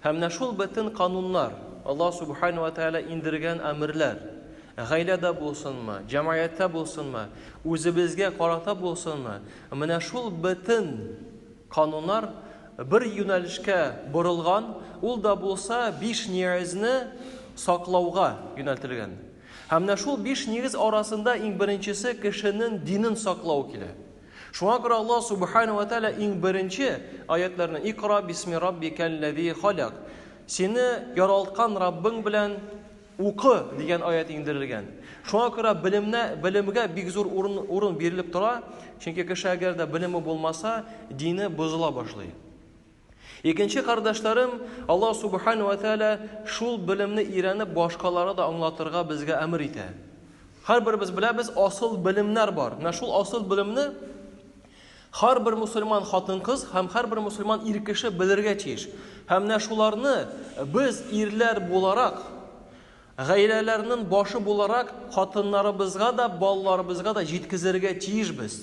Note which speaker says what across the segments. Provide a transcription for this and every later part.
Speaker 1: Һәм менә шул бөтен кануннар, Аллаһ Сүбхәнәһү вә Тәгалә индергән әмерләр, гаиләдә булсынмы, җәмәгатьтә булсынмы, үзебезгә карата булсынмы, менә шул бөтен кануннар бер юнәлешкә борылган, ул да булса биш нигезне саклауга юнәлтелгән. Һәм менә шул биш нигез арасында иң беренчесе кешенең динен саклау килә. Шуңа күрә Аллаһ Субхана вә Тәгалә иң беренче аятьләрне Икра бисми раббикәлләзи халәк. Сине яралткан Раббың белән укы дигән аять иңдерелгән. Шуңа күрә белемне, белемгә бик зур урын, урын бирелеп тора, чөнки кеше әгәр дә белеме булмаса, дине бозыла башлый. Икенче кардәшләрем, Аллаһ Субхана вә Тәгалә шул белемне өйрәнеп башкаларга да аңлатырга безгә әмер итә. Һәрберебез беләбез, асыл белемнәр бар. Менә шул асыл белемне һәрбер мусульман хатын-кыз һәм һәрбер мусульман ир кеше белергә тиеш. Һәм менә шуларны без ирләр буларак, гаиләләрнең башы буларак хатыннарыбызга да, балаларыбызга да җиткезергә тиешбез.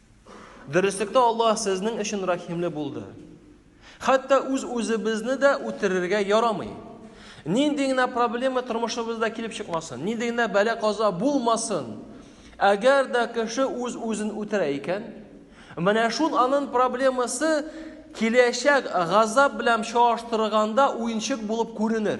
Speaker 1: Дөреслектә Аллаһ сезнең өчен рәхимле булды. Хәтта үз-үзебезне дә үтерергә ярамый. Нинди генә проблема тормышыбызда килеп чыкмасын, нинди генә бәлә каза булмасын, әгәр дә кеше үз-үзен үтерә икән, менә шул анын проблемасы киләчәк газап белән чагыштырганда уенчык булып күренер.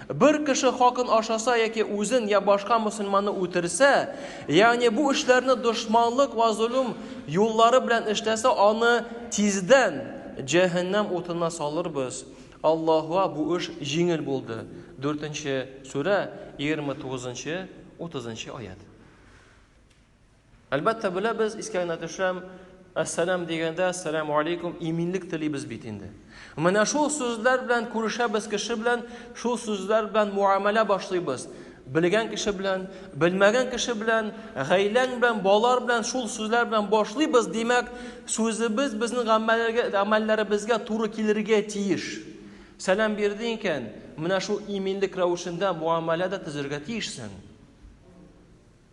Speaker 1: Бер кеше хакын ашаса яки үзен я башка мөселманны үтерсә, ягъни бу эшләрне дошманлык вә золым юллары белән эшләсә, аны тиздән җәһәннәм утына салырбыз. Аллаһуа бу эш җиңел булды. Дүртенче сүрә, егерме тугызынчы, утызынчы аять. Әлбәттә, беләбез, искә генә төшәм, Әссәлам дигәндә, әссәләму алейкум, иминлек телибез бит инде. Менә шул сүзләр белән күрешәбез кеше белән, шул сүзләр белән муамәлә башлыйбыз. Белгән кеше белән, белмәгән кеше белән, гаиләң белән, балалар белән шул сүзләр белән башлыйбыз, димәк, сүзебез безнең гамәлләребезгә туры килергә тиеш. Сәлам бирде икән, менә шул иминлек рәвешендә муамәлә дә төзергә тиешсең.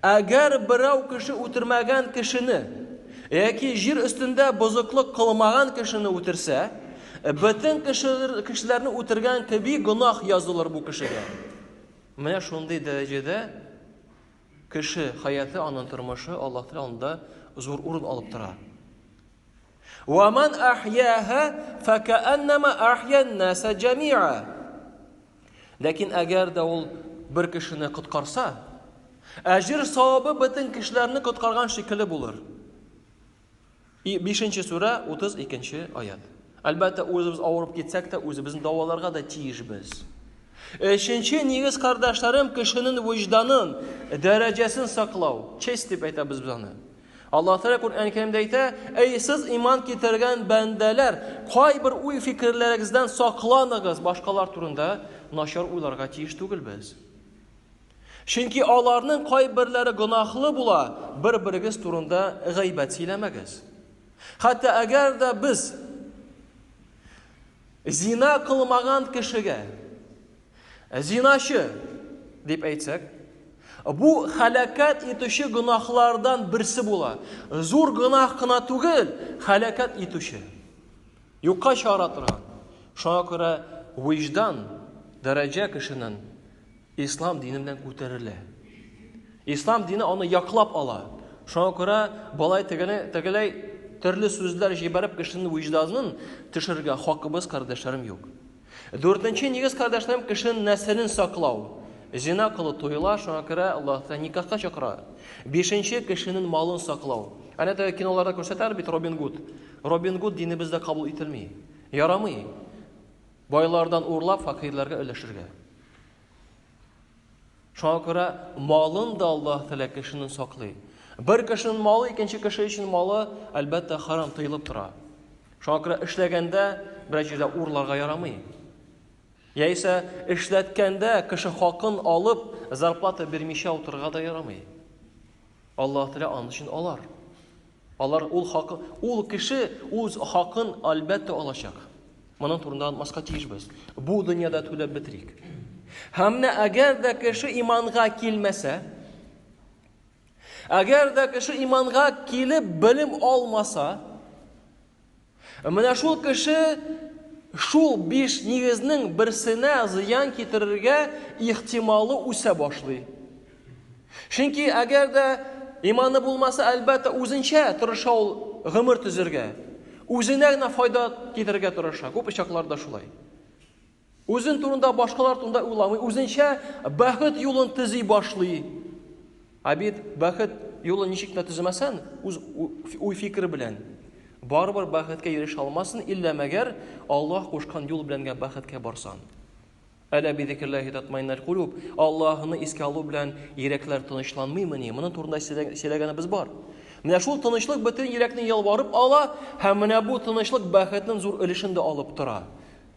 Speaker 1: Әгәр берәү кеше үтермәгән кешене яки җир өстендә бозыклык кылмаган кешене үтерсә, бөтен кешеләрне үтергән кеби гөнаһ язылыр бу кешегә. Менә шундый дәрәҗәдә кеше хаяты, аның тормышы Аллаһ Тәгалә анда зур урын алып тора. Ва ман ахьяха факааннама ахьян наса джамиа. Ләкин әгәр дә ул бер кешене коткарса, әҗер савабы бөтен кешеләрне коткарган шикелле булыр. 5 нче сүрә 32 нче аят. Әлбәттә, үзебез авырып китсәк тә, үзебезне дәваларга да тиешбез. Өченче нигез кардәшләрем кешенең вөҗданын, дәрәҗәсен саклау, честь дип әйтәбез без аны. Аллаһ Тәгалә Коръән Кәримдә әйтә, Әй сез иман китергән бәндәләр, кайбер уй-фикерләрегездән сакланыгыз, башкалар турында начар уйларга тиеш түгел без. Чөнки аларның кайберләре гөнаһлы була, бер-берегез турында гайбәт сөйләмәгез. Хәтта әгәр дә без зина кылмаган кешегә Зиначы дип әйтсәк, бу халәкәт итүче гөнаһлардан берсе була. Зур гөнаһ кына түгел, халәкәт итүче. Юкка чыгара торган. Шуңа күрә виждан дәрәҗә кешенең ислам дине белән күтәрелә. Ислам дине аны яклап ала. Шуңа күрә балай тегене тегеләй төрле сүзләр җибәреп кешенең вижданын төшерергә хакыбыз, кардәшләрем, юк. Дүртенче нигез, кардәшләрем, кешенең нәселен саклау. Зина кылу туела, шуңа күрә Аллаһ Тәгалә никахка чакыра. Бишенче, кешенең малын саклау. Әнә теге киноларда күрсәтәләр бит Робин Гуд. Робин Гуд динебездә кабул ителми. Ярамый. Байлардан урлап, факирләргә өләшергә. Шуңа күрә малын да Аллаһ Тәгалә кешене саклый. Бер кешенең малы икенче кеше өчен малы, әлбәттә, харам тыелып тора. Шуңа күрә эшләгәндә берәр җирдә урларга ярамый. Яисә эшләткәндә кеше хакын алып, зарплата бирмичә утырырга да ярамый. Аллаһ Тәгалә аны өчен алар. Алар ул хакы, ул кеше үз хакын, әлбәттә, алачак. Моның турында онытмаска тиешбез. Бу дөньяда түләп бетерик. Һәм менә әгәр дә кеше иманга килмәсә, әгәр дә кеше иманга килеп белем алмаса, Менә шул кеше шул биш нигезнең берсенә зыян китерергә ихтималы үсә башлый. Чөнки әгәр дә иманы булмаса, әлбәттә, үзенчә тырыша ул гомер төзергә. Үзенә генә файда китерергә тырыша. Күп очакларда шулай. Үзен турында башкалар турында уйламый, үзенчә бәхет юлын төзи башлый. Ә бит бәхет юлын ничек тә төземәсән, үз уй фикер белән барыбер бәхеткә ирешә алмасын, иллә мәгәр Аллаһ кушкан юл белән генә бәхеткә барсан. Әлә бизикерләһи татмайнал кулуб, Аллаһны искә алу белән йөрәкләр тынычланмыймыни? Моны турында сөйләгәнебез бар. Менә шул тынычлык бөтен йөрәкне ялварып ала һәм менә бу тынычлык бәхетнең зур өлешен дә алып тора.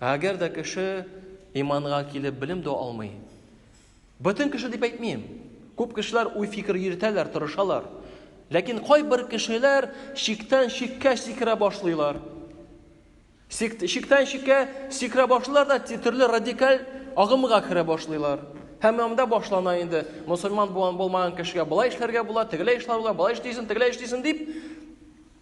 Speaker 1: Ә әгәр дә кеше иманга килеп белем дә алмый. Бөтен кеше дип әйтмим. Күп кешеләр уй фикер йөртәләр, тырышалар. Ләкин кайбер кешеләр шиктән шиккә сикерә башлыйлар. Шиктән шиккә сикерә башлыйлар да төрле радикаль агымга керә башлыйлар. Һәм анда башлана инде. Мусульман булган булмаган кешегә болай эшләргә була, тегеләй эшләргә була, болай эшлисен, тегеләй эшлисен дип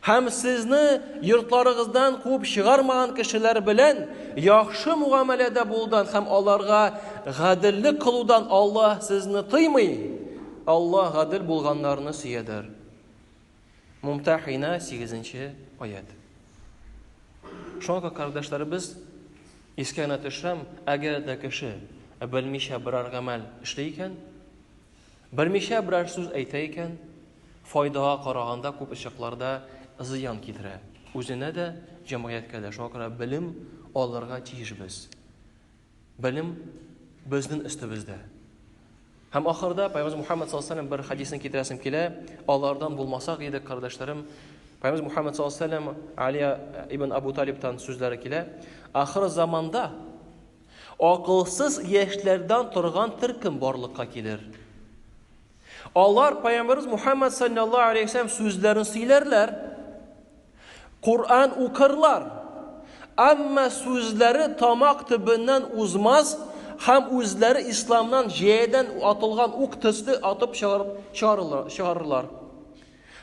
Speaker 1: Һәм сезне йортларыгыздан куып чыгармаган кешеләр белән яхшы мугамәләдә булудан һәм аларга гаделлек кылудан Аллаһ сезне тыймый. Аллаһ гадел булганнарны сөядер. Мумтахина 8-нче аят. Шуңа кардәшләребез искә генә төшәм, әгәр дә кеше белмичә берәр гамәл эшли икән, Белмичә берәр сүз әйтә икән, файдага караганда күп очакларда зыян китерә. Үзенә дә, җәмгыятькә дә. Шуңа күрә белем алырга тиеш без. Белем безнең өстебездә. Һәм ахырда Пәйгамбер Мухаммад саллаллаһу алейһи бер хадисны китерәсем килә. Алардан булмасак иде, кардәшләрем. Пәйгамбер Мухаммад саллаллаһу алейһи Али ибн Абу Талибтан сүзләре килә. Ахыр заманда Акылсыз яшьләрдән торган төркем барлыкка килер. Алар Пәйгамбәрбез Мухаммад саллаллаһу алейһи вәсәлләм сүзләрен сөйләрләр, Коръән укырлар, әмма сүзләре тамак төбеннән узмас һәм үзләре исламнан җәядән атылган ук төсле атып чыгарылыр, чыгарырлар.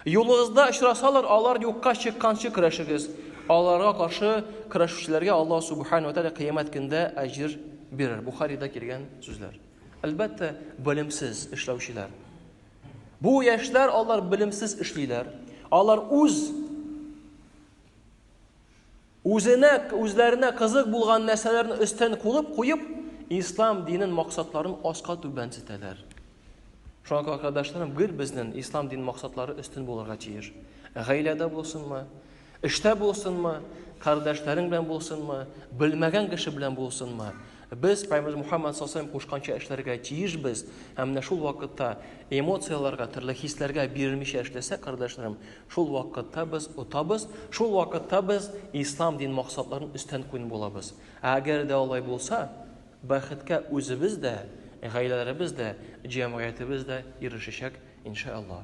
Speaker 1: Юлыгызда очрасалар, алар юкка чыкканчы көрәшегез. Аларга каршы көрәшүчеләргә Аллаһ Субхану Тәгалә кыямәт көндә әҗер бирер. Бухарида килгән сүзләр. Әлбәттә, белемсез эшләүчеләр. Бу яшьләр алар белемсез эшлиләр. Алар үз Үзенә, үзләренә кызык булган нәрсәләрне өстен кулып куеп, ислам динен максатларын аска түбән сетәләр. Шуңа күрә, кардәшләрем, гел безнең ислам дин максатлары өстен булырга тиеш. Гаиләдә булсынмы, эштә булсынмы, кардәшләрең белән булсынмы, белмәгән кеше белән булсынмы, Без Пайгамбарыбыз Мухаммад сасалам кушканча эшләргә тиешбез, һәм менә шул вакытта эмоцияләргә, төрле хисләргә бирелмичә эшләсәк, кардәшләрем, шул вакытта без отабыз, шул вакытта без ислам дин максатларын өстән куен булабыз. Ә әгәр дә алай булса, бәхеткә үзебез дә, гаиләләребез дә, җәмгыятебез дә ирешәчәк, иншәаллаһ.